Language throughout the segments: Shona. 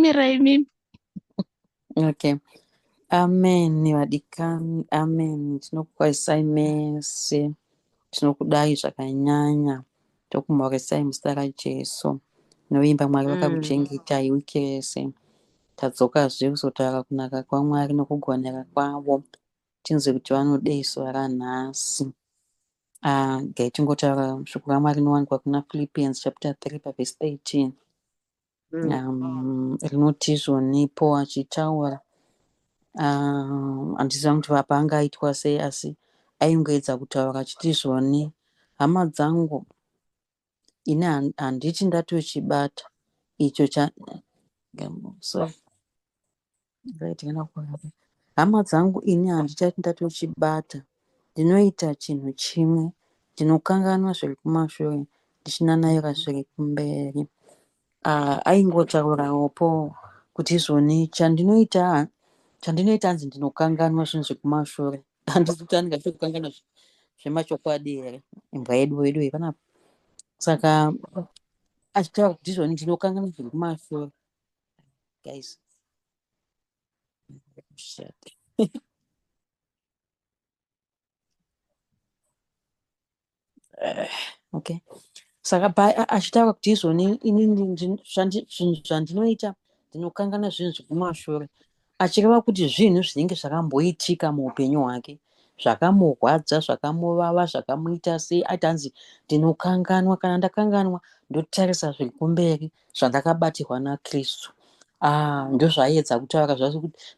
Mira imimi. Okay. Amen vadikani. Amen. Tinokukwazisai mese. Tinokudai zvakanyanya. Tokumhoresai muzita raJesu. Novimba Mwari vakakuchengetai wiki rese. Tadzokazve kuzotaura kunaka kwaMwari nokugonera kwavo. Tinzwe kuti vanodei zuva ranhasi. Ah, gai tingotaura shoko raMwari rinowanikwa kuna Philippians chapter 3 pavhesi 13. um, rinoti izvo nepo achitaura handiziva um, kuti vapa anga aitwa sei asi aingoedza kutaura achiti izvoni hama dzangu ini handiti ndatochibata icho cha sorry hama dzangu ini handichati ndatochibata ndinoita chinhu chimwe ndinokanganwa zviri kumashure ndichinanaira zviri kumberi ah, aingotaurawo po kuti izvoni chandinoita chandinoita hanzi ndinokanganwa zvinhu zviri kumashure handizi kuti anenge achiri kukanganwa zvemachokwadi here imbwa yedu wedu yepanapa saka achitaura kuti izvoni ndinokanganwa zviri kumashure guys eh, okay saka achitaura kuti izvoni inini zvinhu zvandinoita ndinokanganwa zvinhu zvekumashure achireva kuti zvinhu zvinenge zvakamboitika muupenyu hwake zvakamurwadza zvakamuvava zvakamuita sei ati hanzi ndinokanganwa kana ndakanganwa ndotarisa zviri kumberi zvandakabatirwa nakristu ah, ndozvaiedza kutaura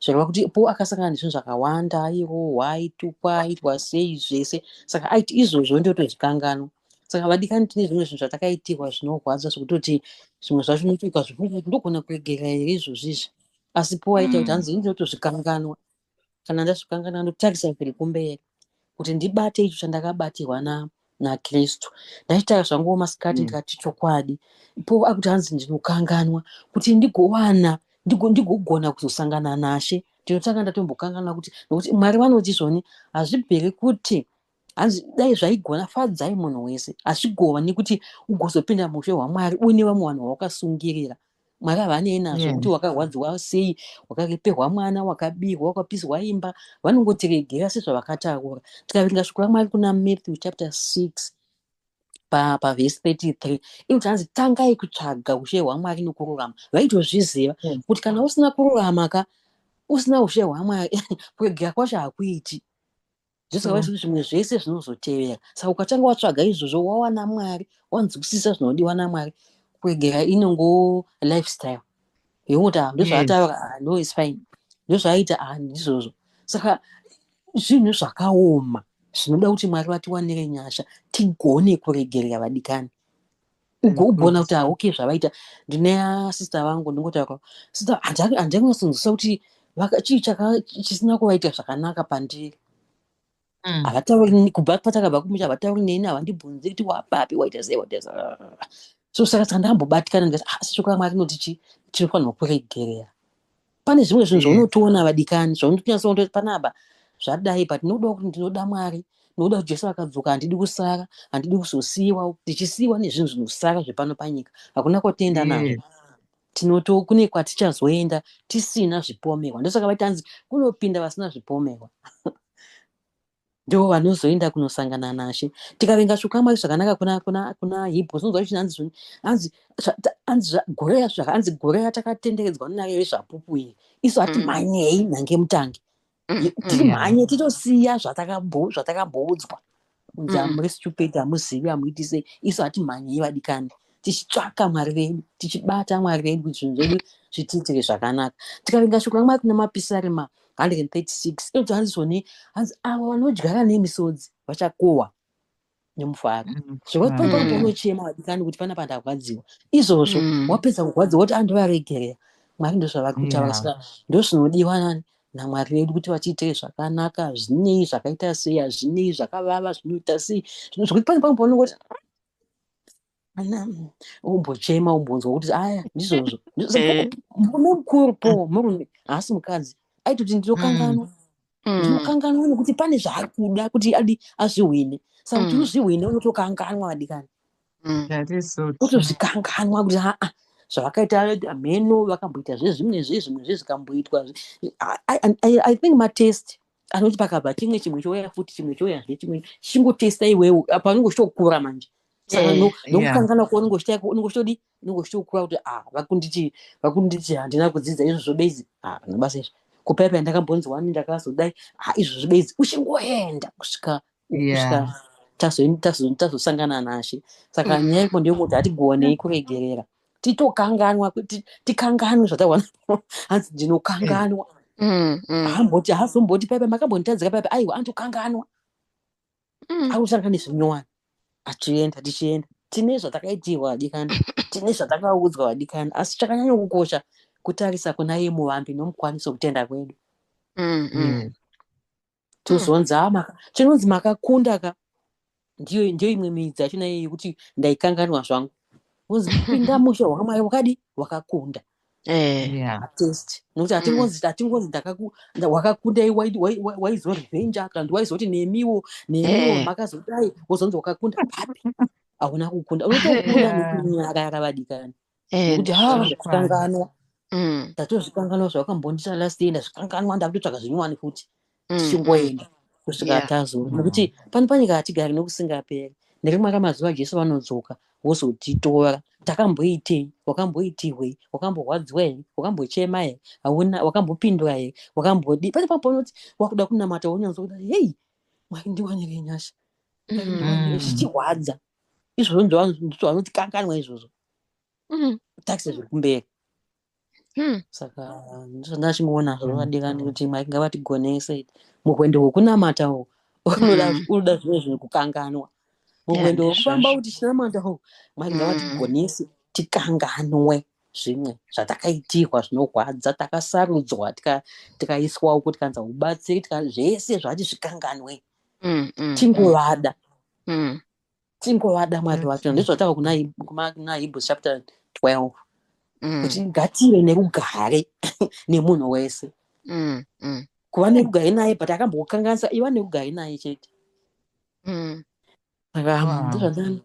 zvireva kuti po akasangana nezvinhu zvakawanda airohwa aitukwa aitwa sei zvese saka aiti izvozvo ndotozvikanganwa saka vadikani tine zvimwe zvinhu zvatakaitirwa zvinorwadza zvekutoti zvimwe zvacho unotoika zvekuti ndogona kuregerera here izvozvizvi asi powaita kuti mm. hanzi ini ndinotozvikanganwa kana ndazvikanganwa ndotarisa zviri kumberi kuti ndibate icho chandakabatirwa na nakristu ndaitaka zvanguwo masikati mm. ndikati chokwadi po akuti hanzi ndinokanganwa kuti ndigowana ndigogona kuzosangana nashe ndinotanga ndatombokanganwa kuti nokuti mwari vanoti zvoni hazvibviri kuti hanzi dai zvaigona fadzai munhu wese hazvigova nekuti ugozopinda mushe hwamwari uine vamwe vanhu vawakasungirira mwari havanei nazvo kuti wakarwadziwa sei wakareperwa mwana wakabirwa wakapiswa imba vanongotiregera sezvavakataura tikaverenga shoko ramwari kuna matthew chapter 6 pavhesi 33 inoti hanzi tangai kutsvaga ushe hwamwari nokururama vaitozviziva kuti kana usina kururama ka usina ushe hwamwari kuregera kwacho hakuiti zvisingavi zvekuti zvimwe zvese zvinozotevera saka ukatanga watsvaga izvozvo wawana mwari wanzwisisa zvinodiwa namwari kwegera inongo lifestyle yokuti ah, ndozvaataura ah, no is fine ndozvaaita ah, ndizvozvo saka zvinhu zvakaoma zvinoda kuti mwari vatiwanire nyasha tigone kuregerera vadikani ugogona kuti hauke zvavaita ndine asista vangu ndingotaura sista handai kunyatsonzwisa kuti chii chisina kuvaita zvakanaka pandiri mm. havatauri kubva patakabva kumusha havatauri neni havandibvunzi kuti wapapi waita sei waita so saka saka ndambobatikana ndikati asi ah, shoko ramwari rinoti chii tinofanirwa kuregerera pane zvimwe zvinhu zvaunotoona vadikani zvaunotonyasoona kuti panapa zvadai but ndinoda kuti ndinoda mwari nokuda kuti jesu vakadzoka handidi kusara handidi kuzosiyiwa tichisiyiwa nezvinhu zvinosara zvepano panyika hakuna kwatenda nazvo mm. tinoto kune kwatichazoenda tisina zvipomerwa ndosaka vatanzi kunopinda vasina zvipomerwa ndivo vanozoenda kunosangana nashe tikavenga zvokwamwari zvakanaka kuna kuna kuna hibho zvinonzwa kuti hanzi zvoni hanzi hanzi zvagoreya zvaka hanzi goreya takatenderedzwa nunare vezvapupu iri isu hatimhanyei mm. nhange mutange mm, timhanye mm. titosiya zvatakamboudzwa zvataka unzi amuri stupid hamuzivi hamuiti sei isu hatimhanyei vadikani tichitsvaka mwari vedu tichibata mwari vedu kuti zvinhu zvedu zvitiitire zvakanaka tikavenga shoko ramwari kuna mapisarema 136 inonzi hanzizoni hanzi avo vanodyara nemisodzi vachakohwa nemufaro mm. zvekwaipaipa mm. unochema wadikani kuti pana pandarwadziwa izvozvo mm. wapedza kurwadziwa woti andivaregerera mwari ndozvavari kutaura saka ndozvinodiwa nani namwari vedu kuti vatiitire zvakanaka zvinei zvakaita sei hazvinei zvakavava zvinoita sei zvino zvekuti pane pamwe paunenge kuti umbochema umbonzwa kuti aya ndizvozvo eh. murume mukuru po mm. murume haasi mukadzi aitoti ndinokanganwa mm. mm. ndinokanganwa nekuti pane zvaari kuda kuti adi azvihwine saka kuti unozvihwine unotokanganwa vadikani otozvikanganwa kuti haa zvavakaita hameno vakamboita zvezvimwe zvezvimwe zvezvikamboitwa i think matest anoti pakabva chimwe chimwe chouya futi chimwe chouya zve chimwe chingotesta iwewe apa unenge uchitokura manje saka eh, nokukangana kuo unenge uchitaya unenge uchitodi unenge uchitokura kuti ah vakunditi vakunditi handina kudzidza izvo zvobezi ah nabasa izvo kupaipa ndakambonzi wani ndakazodai ah izvo zvobezi uchingoenda kusvika tazosangana nashe saka mm. nyaya iko ndeyekuti hatigonei kuregerera titokanganwa tikanganwe zvatawana hanzi ndinokanganwa mm, mm. hamboti hazomboti paipa makambonditadzika paipa aiwa antokanganwa akusanga nezvinyowani achienda tichienda tine zvatakaitirwa vadikani tine zvatakaudzwa vadikani asi chakanyanya kukosha kutarisa kuna ye muvambi nomukwaniso kutenda kwedu mm, mm. mm. tozonzi hmm. ah, chinonzi makakunda ka ndiyo ndiyo imwe midzi yacho naye yekuti ndaikanganwa zvangu unzi pinda musha wakamwari wakadi wakakunda eh. test nokuti hatingonzi hmm. hatingonzi wakakundai waizorevenge kana kuti waizoti nemiwo nemiwo eh. makazodai wozonzi wakakunda papi hauna kukunda unotokuda nekunyaka yakavadikani kuti ha zvakanganwa ndatozvikanganwa mm. zvawakambondita last day ndazvikanganwa ndakutotsvaga zvinyowani futi mm, mm. tichingoenda kusvika tazoona nokuti pano panyika hatigari nokusingaperi nerimwe ramazuva jesu vanodzoka wozotitora takamboitei wakamboitihwei wakamborwadziwa here wakambochema here hauna wakambopindura here wakambodii pane pamwe paunoti wakuda kunamata wonyanzwa kuda hei mwari ndiwanirei nyasha zvichirwadza izvozvo ndizvo vanoti kanganwa izvozvo mm. taxi zviri kumberi mm. saka ndachingoona zvavadikani kuti mwari ngavatigonese muhwendo hwekunamata uhu unoda mm. zvimwe zvinhu kukanganwa muhwendo hwekufamba kuti chinamata uhu mwari mm. ngavatigonese tikanganwe zvimwe zvatakaitirwa zvinorwadza takasarudzwa tikaiswa uko tikanza ubatsiri zvese zvati zvikanganwe mm, tingovada tingovada mwari wacho mm. ndizvataura kuna kuna hebrews chapter 12 mm. kuti ngative nerugare nemunhu wese mm, mm. kuva nerugare naye but akambokukanganisa iva nerugare naye chete mm. saka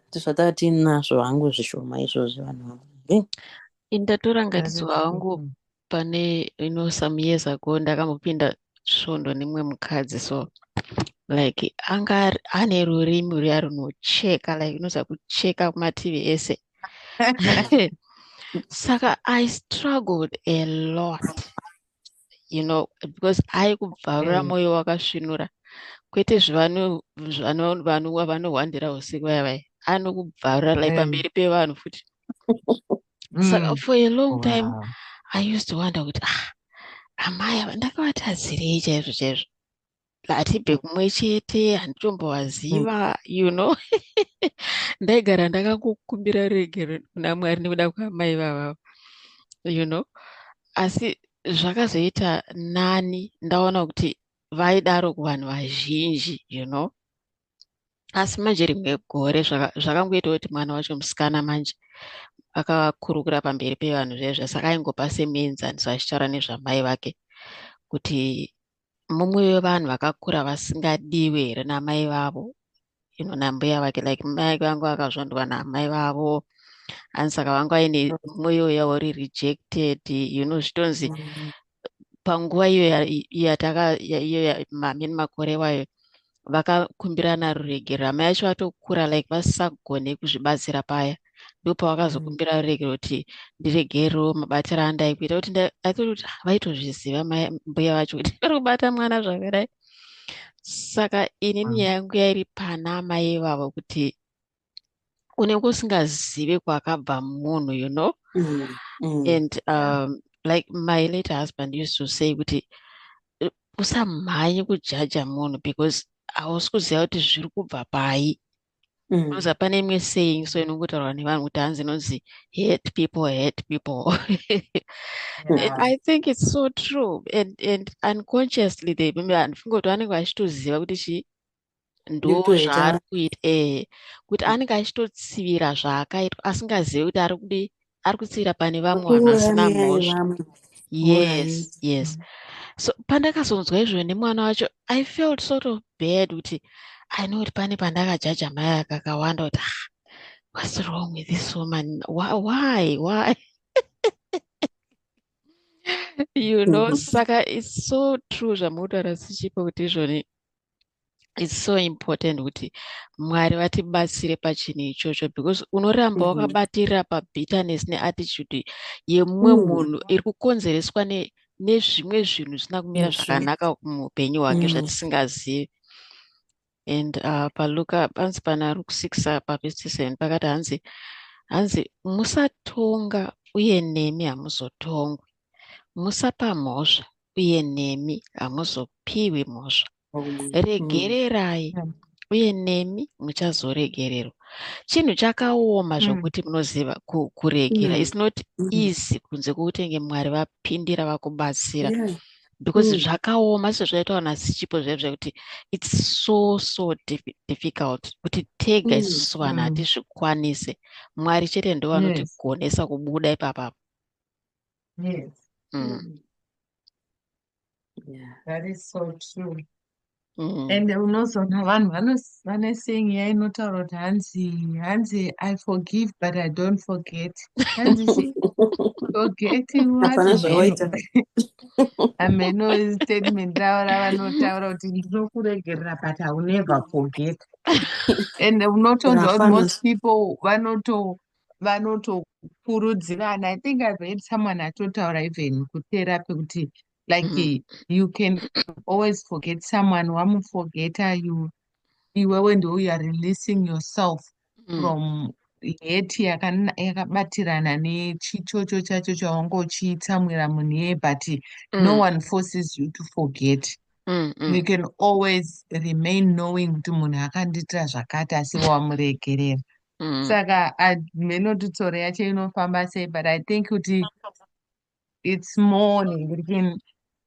ndizvataura tiinazvo hangu zvishoma izvozvi vanhu vangu indatora ngatiziva hangu pane you know some years ago ndakambopinda svondo nemumwe mukadzi so like anga ane rurimi ruya runocheka like unoziva kucheka kumativi ese saka i struggled a lot you know because aikubvarura mm. mwoyo wakasvinura kwete zvivanhu vanohwandira usiku vaya vaya anokubvarura like mm. pamberi pevanhu futi saka mm. for a long time wow. i used to wonder kuti ah amai ava ndakavatadzirei chaizvo chaizvo hatibve kumwe chete handitombovaziva mm. you know ndaigara ndakangokumbira regero kuna mwari nekuda kwaamai vava you know asi zvakazoita nani ndaona kuti vaidaro kuvanhu vazhinji you know asi manje rimwe gore zvakangoitawo kuti mwana wacho musikana manje akakurukura pamberi pevanhu zvezve saka aingopa semuenzaniso achitaura nezvamai vake kuti mumwe wevanhu vakakura vasingadiwe here namai vavo ino nambuya vake like mai vangu vakazvondwa namai vavo ani saka vanga vaine mwoyo yavo rirejected you know zvitonzi mm. panguva iyo yataka iyo mamini makore iwayo vakakumbirana ruregero hama yacho vatokura like vasisagone kuzvibatsira paya ndopavakazokumbira mm. ruregero kuti ndiregero mabatiro andai kuita kuti athought kuti vaitozviziva mbuya vacho kuti vari kubata mwana zvakadai saka inini mm. yangu yairi pana amai ivavo kuti unenge usingazive kwakabva munhu you know mm, mm. and um, like my late husband used to say kuti usamhanye kujaja munhu because hausi kuziva kuti zviri kubva pai mm. because mm. hapana imwe saying so inongotaurwa nevanhu kuti hanzi inonzi hate people hate people yeah. i think it's so true and, and unconsciously they maybe anfungoti vanenge vachitoziva kuti chii ndozvaari kuita ee kuti mm. anenge achitotsivira zvaakaitwa asingazivi kuti ari kudi ari kutsivira pane vamwe vanhu vasina mhosva yes yes mm. so pandakazonzwa izvozvo nemwana wacho i felt sort of bad kuti i know kuti pane pandakajaja mai akakawanda kuti ah, what's wrong with this woman why why, why? you know mm. saka it's so true zvamutaura sichipo kuti izvoni it's so important kuti mwari vatibatsire pachinhu ichocho because unoramba mm-hmm. wakabatirira pabitterness neattitude yemumwe mm. munhu iri kukonzereswa nezvimwe zvinhu zvisina kumira zvakanaka muupenyu hwake mm. zvatisingazivi and uh, paluka panzi pana luke six uh, pavhesi seven pakati hanzi hanzi musatonga uye nemi hamuzotongwi musapa mhosva uye nemi hamuzopiwi mhosva regererai mm. uye nemi muchazoregererwa chinhu chakaoma mm. zvokuti munoziva kuregera mm. its not easy kunze kwokutinge mwari vapindira vakubatsira because zvakaoma sezvaitawa nasichipo zvae zvekuti its so so difficult kuti tega isusu vanhu hatizvikwanise mwari chete ndovanotigonesa kubuda ipapapa Yes. Mm. Yeah. That is so true. Mm. And unozoona vanhu vanos- vane saying iya inotaura kuti hanzi hanzi I forgive but I don't forget. Hanzi she forgetting what Hapana hameno. zvawaita. Hameno is statement ravo ravanotaura kuti ndinokuregerera but I will never forget. And unotonzwa kuti Hapana. most people vanoto vanotokurudzirana i think i've heard someone atotaura even kuterapi kuti like mm. you can always forget someone wamuforgeta you iwewe ndo you are releasing yourself mm. from heti yakabatirana nechichocho chacho chawanga uchitsamwira munhu iye but mm. no one forces you to forget mm, mm. you can always remain knowing kuti munhu akandiitira zvakati asi wamuregerera mm. saka hameno kuti tsoro yacho inofamba sei but i think kuti it's more nekuti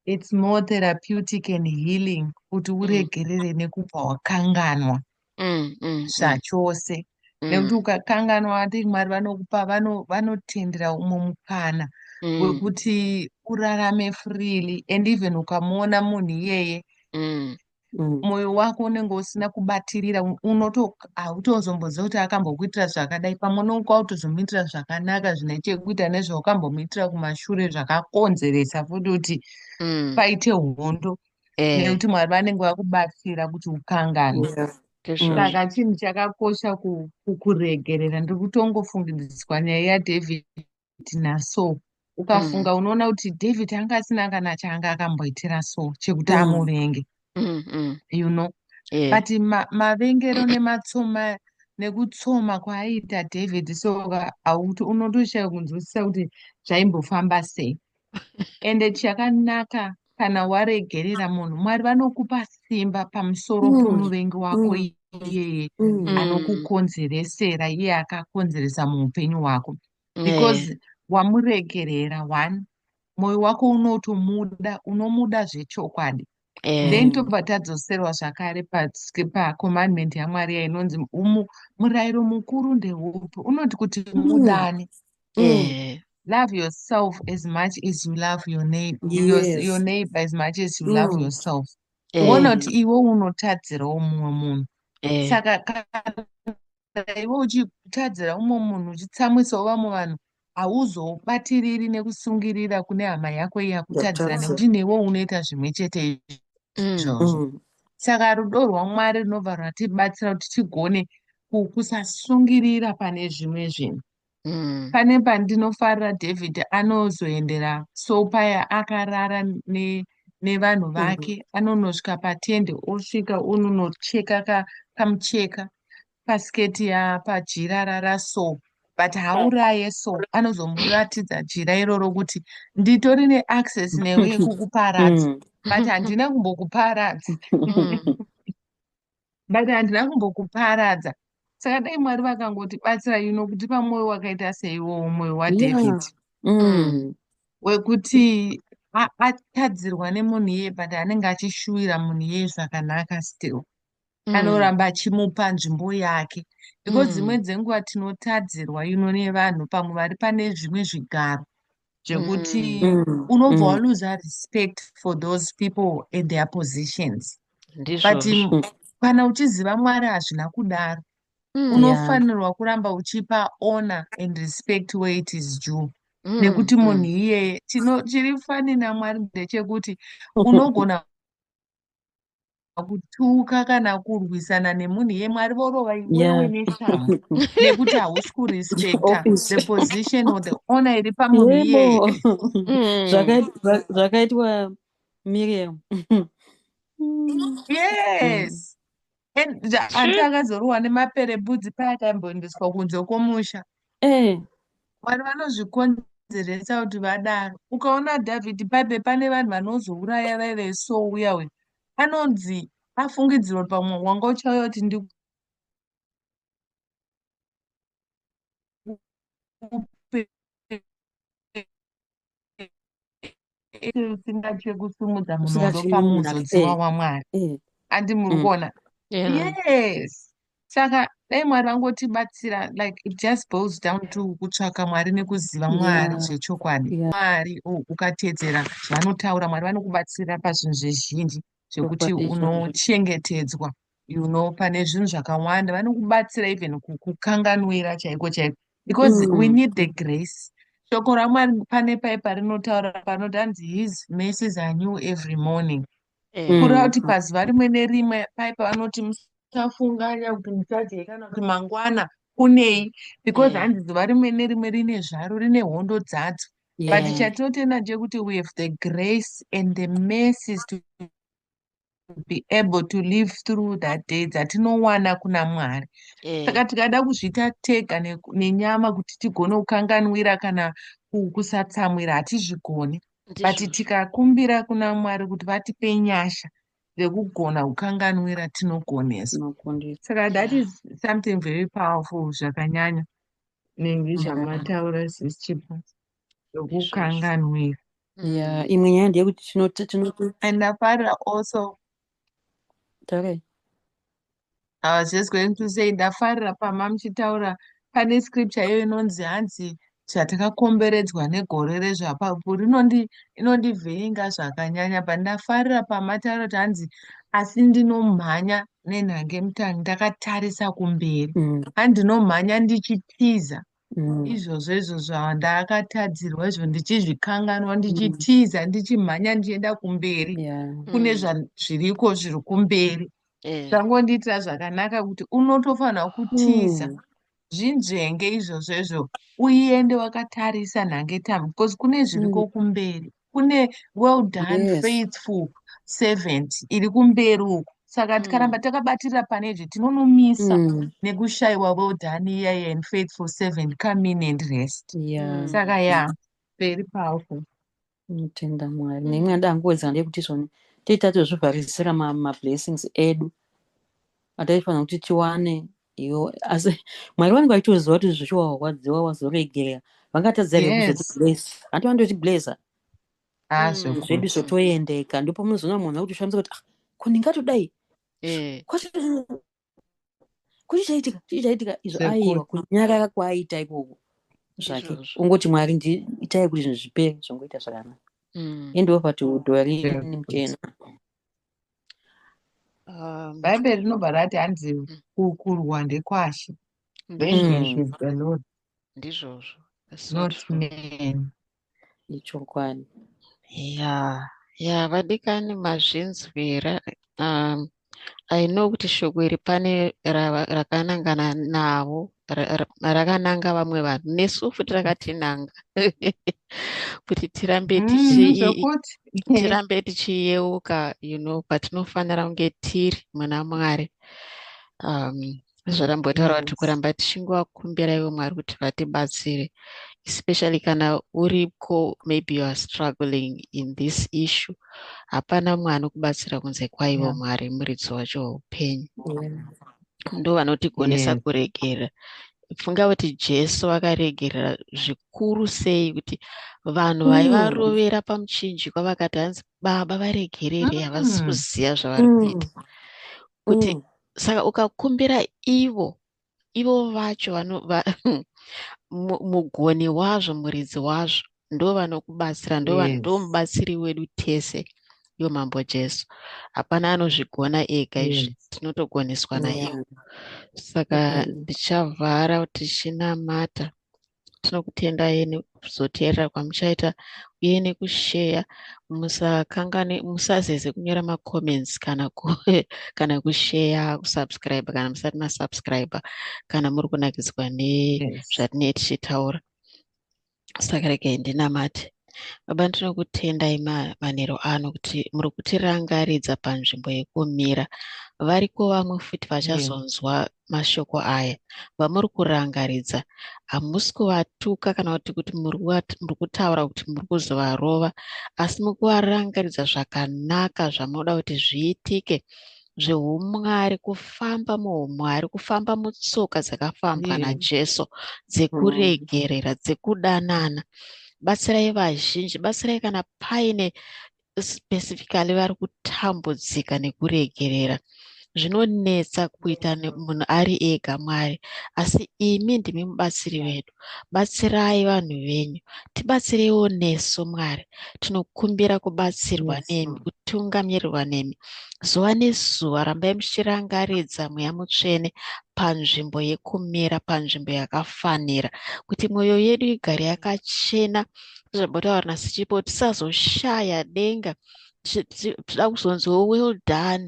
it's more therapeutic and healing kuti mm. uregerere nekubva wakanganwa mm, mm, mm. zvachose mm. mm. nekuti ukakanganwa athink mwari vanokupa vanotendera vano umwe mukana mm. wekuti urarame freely and even ukamuona munhu iyeye mm. mm. mwoyo mm. wako unenge usina kubatirira unoto hautozomboziva kuti akambokuitira zvakadai pamwe unonga wautozomuitira zvakanaka zvine chekuita nezvaukambomuitira kumashure zvakakonzeresa futi kuti mm. paite hondo eh. nekuti mwari vanenge vakubatsira kuti ukangane yeah. Mm. saka chinhu chakakosha kukuregerera ndiri kutongofungidziswa nyaya yadavid tina so mm. ukafunga unoona kuti david anga asina kana chaanga akamboitira so chekuti mm. amuvenge mm, you know yeah. but ma, mavengero nematsoma nekutsoma kwaaita david so auti unotoshaya kunzwisisa kuti zvaimbofamba sei ende chakanaka kana waregerera munhu mwari vanokupa simba pamusoro mm. pomuvengi wako mm. iyeye mm. anokukonzeresera iye akakonzeresa muupenyu hwako because eh. wamuregerera one mwoyo wako unotomuda unomuda zvechokwadi eh. then tobva tadzoserwa zvakare pacommandment pa yamwari ya inonzi murayiro mukuru ndeupi unoti kuti mm. mudane mm. eh. love yourself as much as you love your neighbor, yes. your, your neighbor as much as you mm. love yourself eh. wona kuti iwe unotadzirawo mumwe munhu eh. saka kana iwe uchitadzira umwe munhu uchitsamwisawo vamwe vanhu hauzobatiriri nekusungirira kune hama yako iya kutadzira nekuti newe unoita zvimwe chete izvozvo mm. saka rudo rwamwari runobva rwatibatsira kuti tigone kusasungirira pane zvimwe zvinhu mm. pane pandinofarira david anozoendera so paya akarara ne nevanhu mm. vake mm. anonosvika patende osvika ononocheka ka, kamucheka pasiketi ya pajira rara so but hauraye so anozomuratidza jira iroro kuti nditori neaccess newe yekukuparadza mm. but handina kumbokuparadza mm. but handina kumbokuparadza saka dai mwari vakangoti batsira you know kutipa mwoyo wakaita seiwowo mwoyo wadavid yeah. mm. wekuti atadzirwa nemunhu iye but anenge achishuwira munhu iye zvakanaka still mm. anoramba achimupa nzvimbo yake because mm. dzimwe mm. dzenguva tinotadzirwa ino nevanhu pamwe vari pane zvimwe zvigaro zvekuti mm. mm, mm. unobva mm. waluza respect for those people and their positions but mm, kana uchiziva mwari hazvina kudaro mm, unofanirwa yeah. kuramba uchipa honor and respect where it is due mm, nekuti munhu mm. iyeye chiri fani namwari ndechekuti unogona kutuka kana kurwisana nemunhu iye mwari vorova iwewe neshamhu nekuti hausi kurespecta the position or the honor iri pamunhu iyeye mm. zvakaitwa miriam yes hanti akazorohwa nemapere budzi paya akaimboendeswa kunze kwomusha eh. vanhu vanozvikonzeresa kuti vadaro ukaona david bible pane vanhu vanozouraya vaive so uya uyu anonzi afungidzirwa pamwe wanga uchauya kuti ndi usingatye kusimudza munondo pamunodziwa wamwari eh. andi muri mm. kuona yes saka dai mwari vangotibatsira like it just boils down to kutsvaka mwari nekuziva mwari zvechokwadi mwari oh, ukatedzera zvavanotaura mwari vanokubatsira pazvinhu zvezhinji zvekuti unochengetedzwa you know pane zvinhu zvakawanda vanokubatsira even kukukanganwira chaiko chaiko because mm. we need the grace shoko ramwari pane paipa rinotaura panoti hanzi his mercies are new every morning eh. kureva kuti pazuva rimwe nerimwe paipa vanoti musafunganya kuti muchadye kana kuti mangwana kunei because eh. hanzi zuva rimwe nerimwe rine zvaro rine hondo dzadzo yeah. but chatotenda chekuti we have the grace and the mercies to be able to live through that day dzatinowana kuna mwari eh. saka tikada kuzviita tega nenyama kuti tigone kukanganwira kana kusatsamwira hatizvigoni but tikakumbira kuna mwari kuti vatipe nyasha dzekugona kukanganwira tinogoneswa saka that is something very powerful zvakanyanya nenge chamataura sis chipo zvokukanganwira ya imwe nyaya ndeyekuti tinoti tinoti and ndafarira also okay. I was just going to say ndafarira pama muchitaura pane scripture iyo inonzi hanzi zvatakakomberedzwa negore rezvapapu rinondi inondivhiringa zvakanyanya but ndafarira pamataura kuti hanzi asi ndinomhanya nenhange mutangi ndakatarisa kumberi mm. andinomhanya ndichitiza mm. izvozvo izvozvo ndakatadzirwa izvo ndichizvikanganwa mm. ndichitiza mm. ndichimhanya ndichienda kumberi yeah. kune mm. zviriko zviri kumberi eh. zvangondiitira yeah. zvakanaka kuti unotofanira kutiza mm zvinzvenge izvozvo izvo uende wakatarisa nhangetambwe because kune zviriko mm. kumberi kune well done yes. faithful servant iri kumberi uku saka mm. tikaramba takabatirira pane izvi tinonomisa mm. nekushayiwa well done iyaye and faithful servant come in and rest yeah. saka ya yeah. very powerful tinotenda mwari neimwe yanda angoedzana ndeyekuti izvoni tiita tozvivharisira mablessings edu ataifanira kuti tiwane iyo asi mwari vanenge vachitoziva kuti zvishuwa warwadziwa wazoregerera vangatadza here kuzotiblesa hanti vanototiblesa ah, mm, zvedu zvotoendeka ndipo munozoona munhu akutishamisa kuti ah, ko ndingatodai eh. kuti chaitika chii chaitika izvo aiwa kunyarara kwaaita ikoko zvake ungoti mwari itai kuti zvinhu zvipere zvongoita zvakanaka mm. endiwo pati udhori muchena Um, bhaibheri rinobva rati hanzi mm. kukurwa ndekwashe mm. ndizvozvo ichokwadi ya ya vadikani mazvinzwira um, i know kuti shoko iri pane rakanangana navo rakananga vamwe vanhu nesu futi rakatinanga kuti tirambe mm, tichirambe tichiyeuka you know patinofanira kunge tiri mwana mwari um zvarambotaura kuti kuramba tichingovakumbira ivo mwari kuti vatibatsire especially kana uriko maybe you are struggling in this issue hapana mwana kubatsira kunze kwaivo mwari muridzi wacho weupenyu ndo vanotigonesa yeah. kuregerera funga kuti jesu akaregerera zvikuru sei kuti vanhu mm. vaivarovera mm. pamuchinjikwa vakati hanzi baba varegerere havasi mm. kuziva zvavari mm. kuita mm. kuti mm. saka ukakumbira ivo ivo vacho vano va, mugoni wazvo muridzi wazvo ndovanokubatsira ndomubatsiri yes. wedu tese yo mambo jesu hapana anozvigona ega izvi yes. tinotogoneswa yeah. naiwo saka ndichavhara mm -hmm. tichinamata tinokutenda yeni kuzoteerera kwamuchaita uye nekusheya musakangane musazeze kunyora macomments kana ku, kana kusheya kusubscribe kana musati masubscribe kana muri kunakidzwa nezvatine yes. tichitaura saka regai ndinamate baba ndinokutendai manero ano kuti muri kutirangaridza panzvimbo yekumira variko vamwe futi vachazonzwa mashoko aya vamuri kurangaridza hamusi kuvatuka kana kuti kuti muri kutaura kuti muri kuzovarova asi mukuvarangaridza zvakanaka zvamunoda kuti zviitike zveumwari kufamba muumwari kufamba mutsoka dzakafambwa mm. najesu dzekuregerera mm. dzekudanana batsirai vazhinji batsirai kana paine specifically vari kutambudzika nekuregerera zvinonetsa kuita munhu ari ega mwari asi imi ndimi mubatsiri vedu batsirai vanhu venyu tibatsireiwo nesu mwari tinokumbira kubatsirwa nemi kutungamirirwa nemi zuva nezuva rambai muchirangaridza mweya mutsvene panzvimbo yekumira panzvimbo yakafanira kuti mwoyo yedu igare yakachena zvabhotaura nasichipo tisazoshaya denga tichida kuzonziwo well done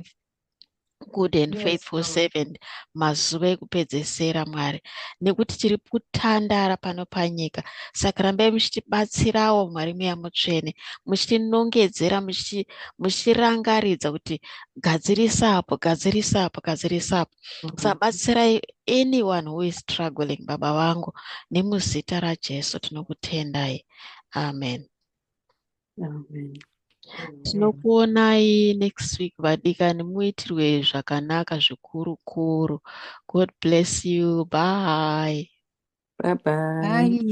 good and yes, faithful Lord. servant mazuva ekupedzesera mwari nekuti tiri kutandara pano panyika saka rambai muchitibatsirawo mwari mweya mutsvene muchitinongedzera muchitirangaridza kuti gadzirisa apo gadzirisa apo gadzirisa apo mm -hmm. sabatsirai anyone who is struggling baba vangu nemuzita rajesu tinokutendai amen Amen. Tinokuonai next week vadikani muitirwe zvakanaka zvikuru kuru. God bless you. Bye. Bye bye. Bye.